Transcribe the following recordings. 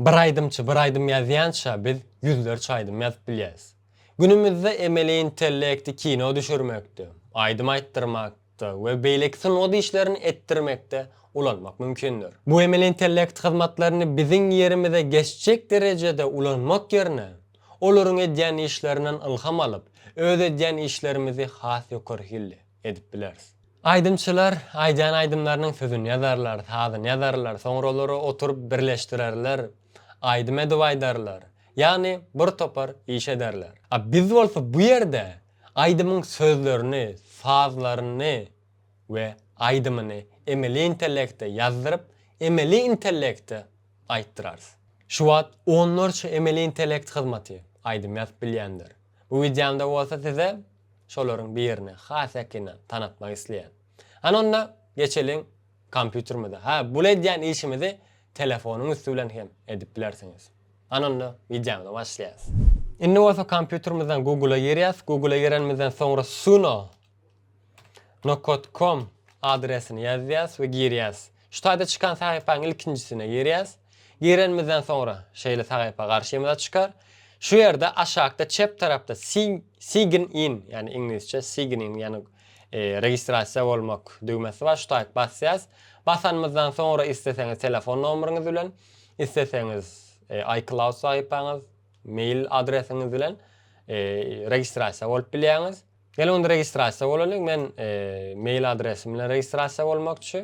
Bir aýdymçy bir aýdym ýazýança biz ýüzlerçe aýdym ýazyp bilýäs. Günümizde emeli intellekti kino düşürmekde, aýdym aýtdyrmakda we beýleki sungat işlerini etdirmekde ulanmak mümkindir. Bu emeli intellekt hyzmatlaryny biziň ýerimize geçjek derejede ulanmak ýerine, olaryň edýän işlerinden ylham alyp, öz edýän işlerimizi has ýokary hilli, edip bileris. Aýdymçylar aýdan aýdymlarynyň sözüni ýazarlar, sazyny ýazarlar, soňra olary oturyp birleşdirerler, aýdym edip aýdarlar, ýagny bir topar iş ederler. A biz bolsa bu ýerde aýdymyň sözlerini, sazlaryny we aýdymyny emeli intellekte ýazdyryp, emeli intellekte aýtdyrarys. Şu wagt onlarça emeli intellekt hyzmaty aýdym ýazyp bilýändir. Bu wideomda bolsa size Şolaryň birini has ýakyndan tanatmak isleýän. Hany onda geçeliň kompýuterimize. Hä, bul edýän işimizi telefonyň üsti bilen hem edip bilersiňiz. Hany onda wideomyzy başlaýas. Indi bolsa kompýuterimizden Google-a girýäs. Google-a girenimizden soňra suno. No. Com adresini ýazýas we girýäs. Şu taýda çykan sahypaň ilkinjisine girýäs. Girenimizden soňra şeýle sahypa garşymyza çykar. Şu ýerde aşakda çep tarapda Sign in ýagny iňlisçe sign in ýagny registrasiýa bolmak düwmesi bar. Şu taýt basýas. Basanymyzdan soňra isleseňiz telefon nomeryňyz bilen, isleseňiz iCloud sahypaňyz, mail adresiňiz bilen registrasiýa bolup bilýäňiz. Gel onda registrasiýa bolalyň men mail adresim bilen registrasiýa bolmakçy.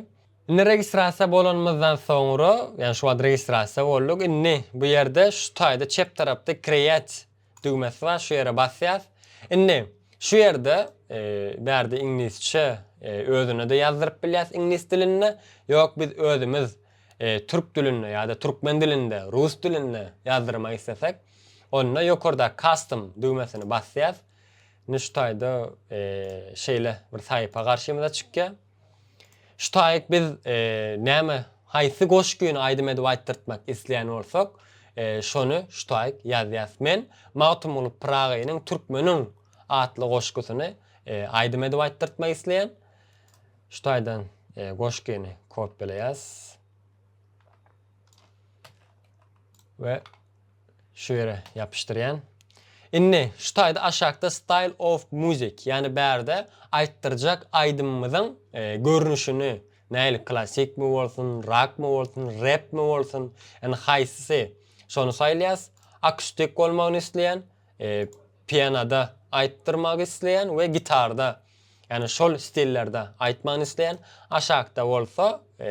Indi registrasiýa bolanymyzdan soňra ýagny şu wagt registrasiýa bolduk indi bu ýerde şu taýda çep tarapda create düwmesi bar şu ýere basýas indi şu ýerde bärde iňlisçe özünede ýazdyryp bilýäs iňlis dilinde ýok biz özümiz türk dilinde ýada türkmen dilinde rus dilinde ýazdyrmak islesek onda ýokardaky custom düwmesini basýas. Nüştaýda şeýle bir saýpa garşymyza çykýar. Şu taýyk biz näme, haýsy goşgyny aýdym edip aýtdyrtmak isleýän bolsak, şony şu taýyk ýazýas. Men Magtymguly Pyragynyň Türkmeniň atly goşgusyny aýdym edip aýtdyrtmak isleýän. Şu taýdan goşgyny kopýalaýas. we şu ýere ýapyşdyrýan. Indi şu taýda aşakda style of music ýani bärde aýtdyrjak aýdymymyzyň e, görnüşini nähili klassikmi bolsun, rakmy bolsun, repmi bolsun, ýani haýsysy şony saýlaýas. Akustik bolmagyny isleýän, e, pianoda aýtdyrmagy isleýän we gitarda ýani şol stillerde aýtmagyny isleýän, aşakda bolsa e,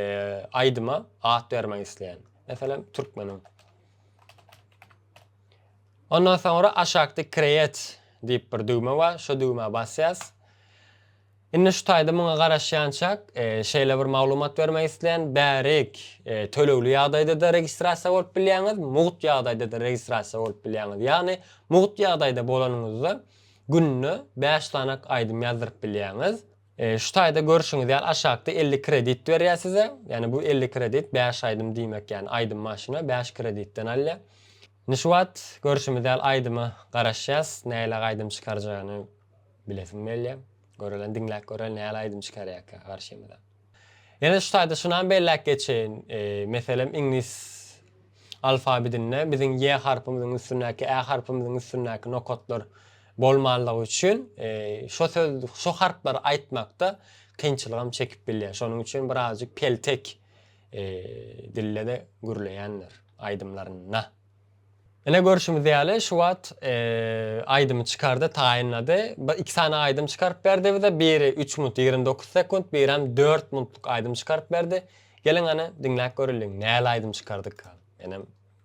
aýdyma at bermegi isleýän. Meselem, türkmeniň. Ondan soňra aşakda create diýip bir düwme bar. Şu düwmä basýas. Indi şu taýda muňa garaşýançak, e, şeýle bir maglumat bermek isleýän, bärik e, tölegli ýagdaýda-da registrasiýa bolup bilýäňiz, mugt ýagdaýda-da registrasiýa bolup bilýäňiz. Ýagny, mugt ýagdaýda bolanyňyzda günde 5 sanak aýdym ýazdyryp bilýäňiz. Şu taýda görşüňiz ýaly aşakda elli kredit berýär size. Ýani bu elli kredit bäş aýdym diýmek ýani aýdym maşyna bäş kreditden alýar. Indi şu wagt görşümiz ýaly aýdyma garaşýas näilaý aýdym çykarjagyny bilesim gelýär. Görelen diňläp göreli näli aýdym çykarýarka garşymyza. Ýene şu taýda şunam belläp geçeýin meselem iňlis alfabidinde biziň ýe harpymyzyň üstündäki ä harpymyzyň üstündäki nokatlar Bolmanlygy üçin şo söz şo harplary aýtmakda kynçylygam çekip bilýär. Şonuň üçin birazjyk peltek dildede gürleýändir aýdymlarynda. Ine görşümiz ýaly şu wagt aýdymy çykardy taýynlady. Bir iki sany aýdym çykaryp berdi bize. Biri üç minut ýigrimi dokuz sekunt birem dört minutlyk aýdym çykaryp berdi. Geliň hany diňläp göreliň näl aýdym çykardyka. Menem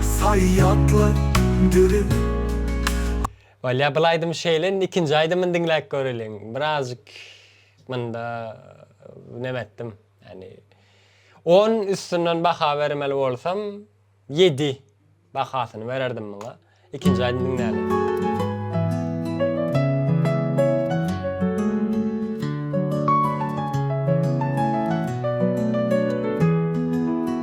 Saýatly dürüp. Bolýa bul aýdym şeýle indi ikinji aýdymyny diňläp göreliň birazjyk munda neme etdim ýagny on üstünden baha bermeli bolsam ýedi bahasyny bererdim muňa ikinji aýdym diňläliň.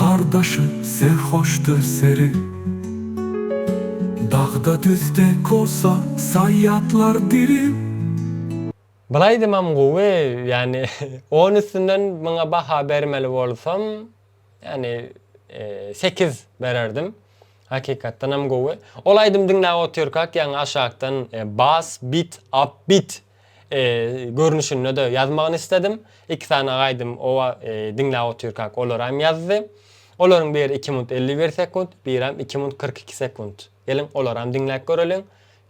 Gardaşy serhoşdy seri. Dagda düzde kosa saýýatlar diri. Bul aýdymam gowy ýani on üstünden muňa baha bermeli bolsam ýani sekiz bererdim hakykatdanam gowy ol aýdym diňläp otyrkak ýaňy aşakdan bas bit up bit görnüşinde-de ýazmagyny isledim. Iki sany aýdym oba diňläp otyrkak olary hem ýazdy. Olaryň biri iki minut elli bir sekunt, birem iki minut kyrk iki sekunt. Geliň, olary hem diňläp göreliň.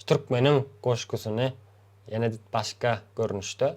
Türkmeniň goşgusyny ýene başga görnüşde.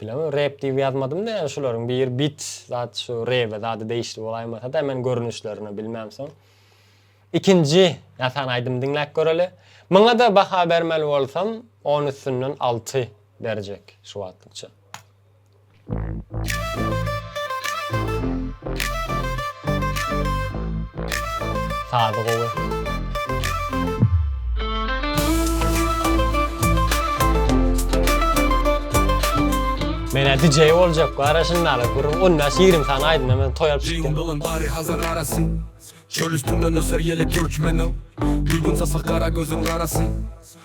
Bilemok rep diýip ýazmadym däl şularyň biri bit zat şu rebe zada degişli bolaýmasada men görnüşlerini bilmem soň ikinji ýasan aýdym diňläp göreli muňada baha bermeli bolsam on üstünden alty berjek şu wagtlykça. Sazy gowy. Menä DJ boljak gara şunda ala gurun 15-20 sany aýdym hemen toý alyp çykýan. Jyňdylan bary hazar arasy. Çöl üstünden öser ýelek göçmeni. Gülgün sasa gara gözüň garasy.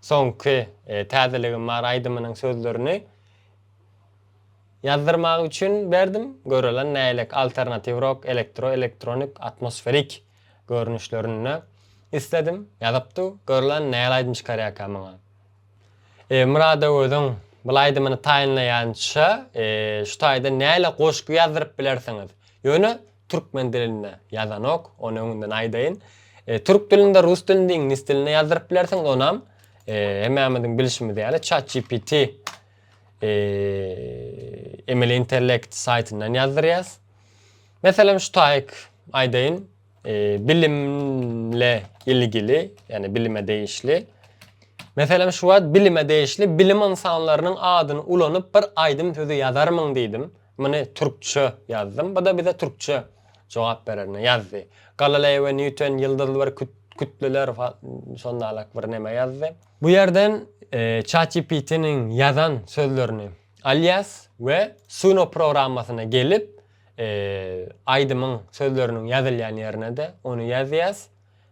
Soňky Täzeligim bar aýdymynyň sözlerini ýazdyrmagy üçin berdim. Görelen näýlek alternatiw rok, elektro, elektronik, atmosferik görnüşlerinde isledim. Ýazypdy. Görlen näl aýdym çykarýarka maňa. Murada özüň bul aýdymyny taýynlaýança şu taýdan näle goşgy ýazdyryp bilersiňiz. Ýöne türkmen dilinde ýazanok, ony öňünden aýdaýyn. E, türk dilinde, rus dilinde, iňlis dilinde ýazdyryp bilersiňiz, onam e, hemmämiziň bilşimiz ýaly ChatGPT e, emeli intellekt saýtyndan ýazdyrýas. Meselem şu taýyk aýdaýyn, e, bilimle ilgili, ýani bilime degişli Meselem şu wagt bilime degişli bilim ynsanlarynyň adyny ulanyp bir aýdym sözi ýazarmyň diýdim. Muny türkçe ýazdym. Bu-da bize türkçe jogap bererini ýazdy. Galileo we Nýuton ýyldyzly bir kütleler şondalyk bir neme ýazdy. Bu ýerden ChatGPT-niň ýazan sözlerini alýas we Suno programmasyna gelip, aýdymyň sözleriniň ýazylýan ýerine-de ony ýazýas.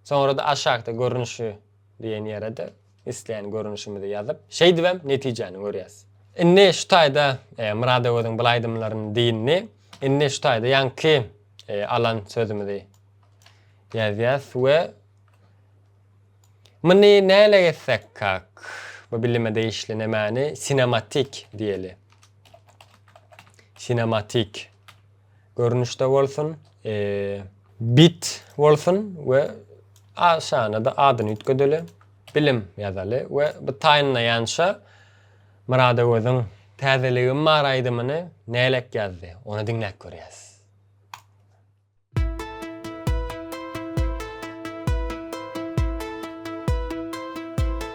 Soňra-da aşakda görnüşi diýen ýere-de Islän görnüşimizi ýazyp, şeýdibem netijäni görýäs. Indi şu taýda Myrad Öweziň bul aýdymlaryny dyndy. Indi şu taýda ýaňky alan sözümizi ýazýas we Muny näle gezsek kak? Bu bilime degişli nemäni sinematik diýeli. Sinematik. görnüşde bolsun, e, bit bolsun we aşana-da adyny üýtgedeli, bilim ýazaly we bu taýynlaýança Myradoweziň Täzeligim bar aýdymyny näleik ýazdy, ony diňläp görýäs.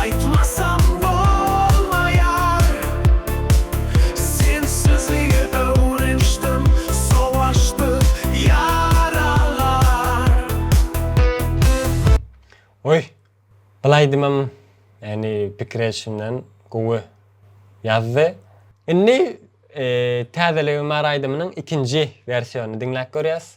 Aýtmasam bolmaýar Sensizligi öwrenişdim Sowaşdy ýaralar. Oý, bul aýdymam ýany pikir edişimden gowy ýazdy. Indi Täzeligim bar aýdymynyň ikinji wersionyny diňläp görýäs.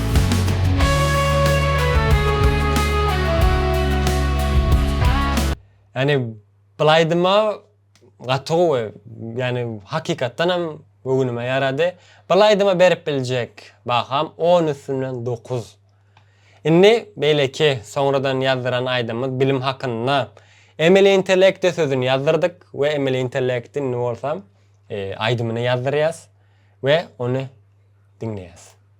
Ýagny bulaýdym-a gaty gowy, ýagny hakykatdanam göwnüme ýarady. Bulaýdym-a berip biljek baham on üstünden dokuz. Indi beýleki soňradan ýazdyran aýdymymyz bilim hakynda. Emeli intellekte sözüni ýazdyrdyk we emeli intellekti indi bolsa aýdymyny ýazdyrýas we ony diňleýäs.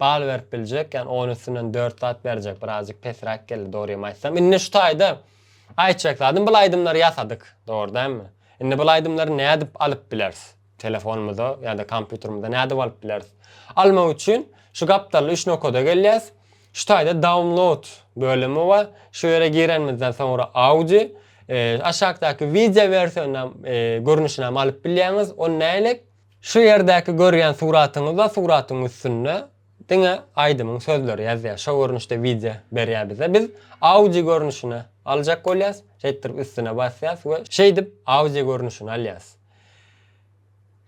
Bal berip biljek ýani on üstünden dört zat berjek birazjyk pesräk geldi dogrymy aýtsam indi şu taýda aýtjak zadym bul aýdymlary ýasadyk dogry dälmi indi bul aýdymlary nädip alyp bileris telefonymyza ýada kompýuterimize nädip alyp bileris almak üçin şu gapdalda üç nokada gelýäs şu taýda download bölümi bar şu ýere girenimizden soňra audi e, aşakdaky wideo wersionam e, görnüşinem alyp bilýäňiz on nälik Şu ýerdäki görýän suratyňyzda suratyň üstünde diňe aýdymyň sözleri ýazýar. Şo görnüşde wideo berýär bize. Biz audio görnüşine aljak bolýas. Şeýtdirip üstüne basýas we şeýdip audio görnüşini alýas.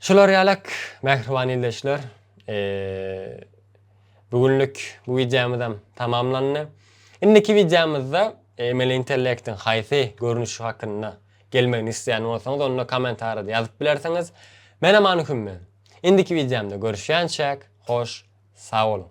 Şular ýalak mähriban ildeşler. Bu günlük bu wideomyzam tamamlandy. Indiki wideomyzda emeli intellektiň haýsy görnüşi hakynda Gelmegini isleýän bolsaňyz onda komentarýada ýazyp bilersiňiz. Men Aman Hümmi. Indiki wideomda görüşýänçäk, hoş sag boluň.